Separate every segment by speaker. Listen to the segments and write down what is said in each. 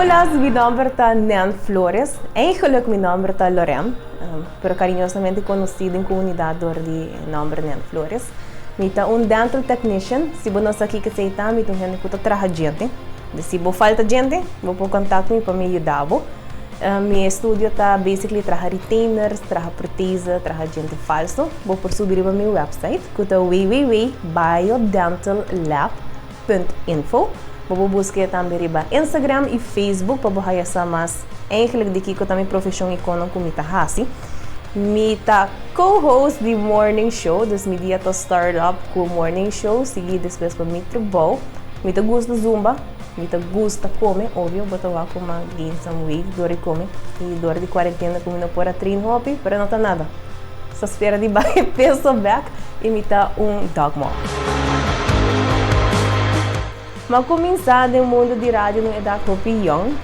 Speaker 1: Olas, mi nomber ta Nel Flores. Eigenlijk mi nomber ta Lorem, pero cariñosamente conocí den comunidad door di e nomber Nel Flores. Mi ta un dental technician. Si bo no sa kiko esei ta, mi ta un hende cu ta traha djente. Dor si bo falta djente, bo por contact mi pa mi yuda bo. Mi estudio ta basically traha retainers, traha protese, traha djente falso. Bo por subi riba mi website. ku ta www biodental lab punt info. Bo por busk'é tambe riba Instagram i Facebook pa bo haya sa mas eihglik di kiko ta mi profeshon i konon ku mi ta hasi. Mi ta co-host di Morning Show, dus mi dia ta start up ku Morning Show, sigui despues pa mi trabou. Mi ta gusta zumba. Mi ta gusta kome, obio bo ta wak ku mi gain some weight dor di kome i dor di kuarentena ku mi no por a train hopi, pero no ta nada. Sta spera di baha e peso bek i mi ta un dogmom. Mi a kuminsá den mundu di radio na un edat hopi yòn.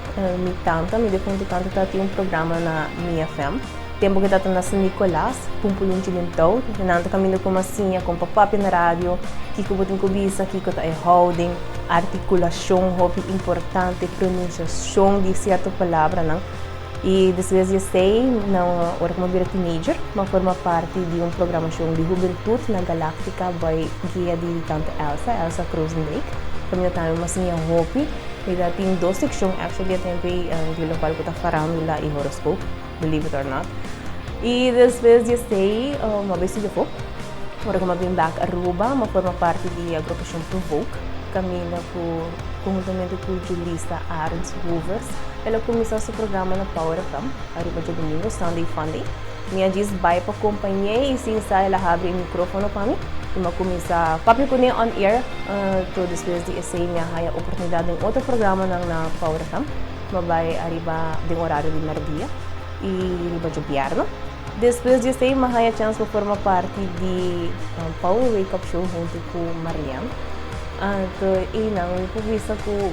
Speaker 1: Mi tanta, mi difuntu tanta ta tin un programa na Mia FM. Tempu ku e tabata na San Nikolas, pumpulun Chilintau, nan ta kaminda ku Masiña kon pa papia na radio kiko bo tin ku bisa, kiko ta e houden, artikulashon hopi importante, pronunsiashon di sierto palabranan. I despues di esei, nan, ora ku mi a bira tinejdjer, mi a forma parti di un programashon di hubentut na Galaktika bai guia di tante Elsa, Elsa Croosendijk. Kaminda tambe Masiña hopi. Mi ta tin dos sekshon, actually, a tempo ei di lokal ku ta farandula i horoskop. believe it or not. Y despues di esey m'a bay estudia poco. Ora cu m'a bini back Aruba, m'a forma parti di agrupacion Provoke, caminda cu conjuntamente cu julista Arends Hovers. El a cuminsa su programa na Power FM, ariba Djo Domingo, Sunday Funday. Mi a djis bay pa compañ'é y sin sa el a habri e microfono pa mi y m'a cuminsa papia cun'é on air. Toa despues di esey mi a haya oportunidad den otro programanan na Power FM. Lo bai ariba den orario di merdia y riba djobièrnè. Despues di esei m'a haña chans pa forma parti di Power Wake Up Show huntu cu Marlian. Anto einan mi por bisa cu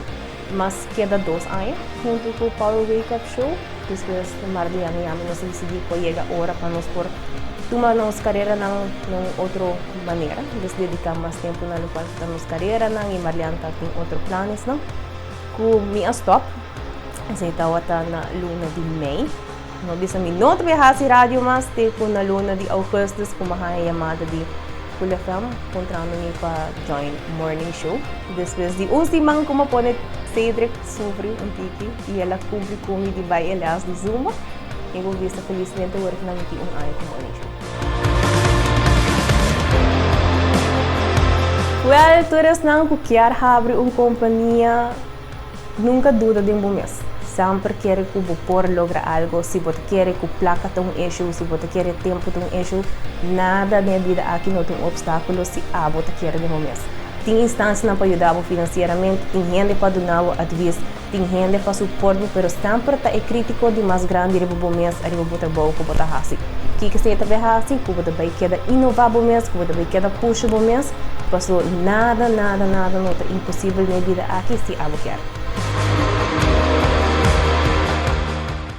Speaker 1: mas keda dos aña huntu cu Power Wake Up Show. Despues Marlian y ami nos a dicidí cu a yega ora pa nos por tuma nos careranan na un otro manera, nos dedicá mas tempu na locual cu ta nos careranan y Marlian ta tin otro planesnan. Ku mi a stòp, esei tawata na luna di mei. Mi a bisa mi no ta bai hasi radio mas te ku na luna di ougùstùs ku mi a haña yamada di Cool FM puntrando mi pa join Morning Show. Despues di un siman ku mi a pone Cedric sufri un tiki i el a kumpli ku mi di bai e lès di zumba, mi bo bisa felismente wòrdu ku mi a miti un aña ku Morning Show. Wèl, tur esnan ku kier habri un kompania, nunka duda den bo mes. Semper kere ku bo por logra algo. Si bo ta kere ku plaka ta un eshu, si bo ta kere tempu ta un eshu, nada den e bida aki no ta un opstákulo si abo ta kere den bo mes. Tin instanshanan pa yuda bo finansieramente, tin hende pa duna bo advis. Tin hende pa suport bo pero semper ta e crítico di mas grandi riba bo mes ariba bo trabou cu bo ta haci. Kiko esei ta bay haci cu bo ta bay keda innova bo mes, cu bo ta bay keda pusha bo mes? Paso nada, nada, nada no ta imposible na e bida aki si abo kier.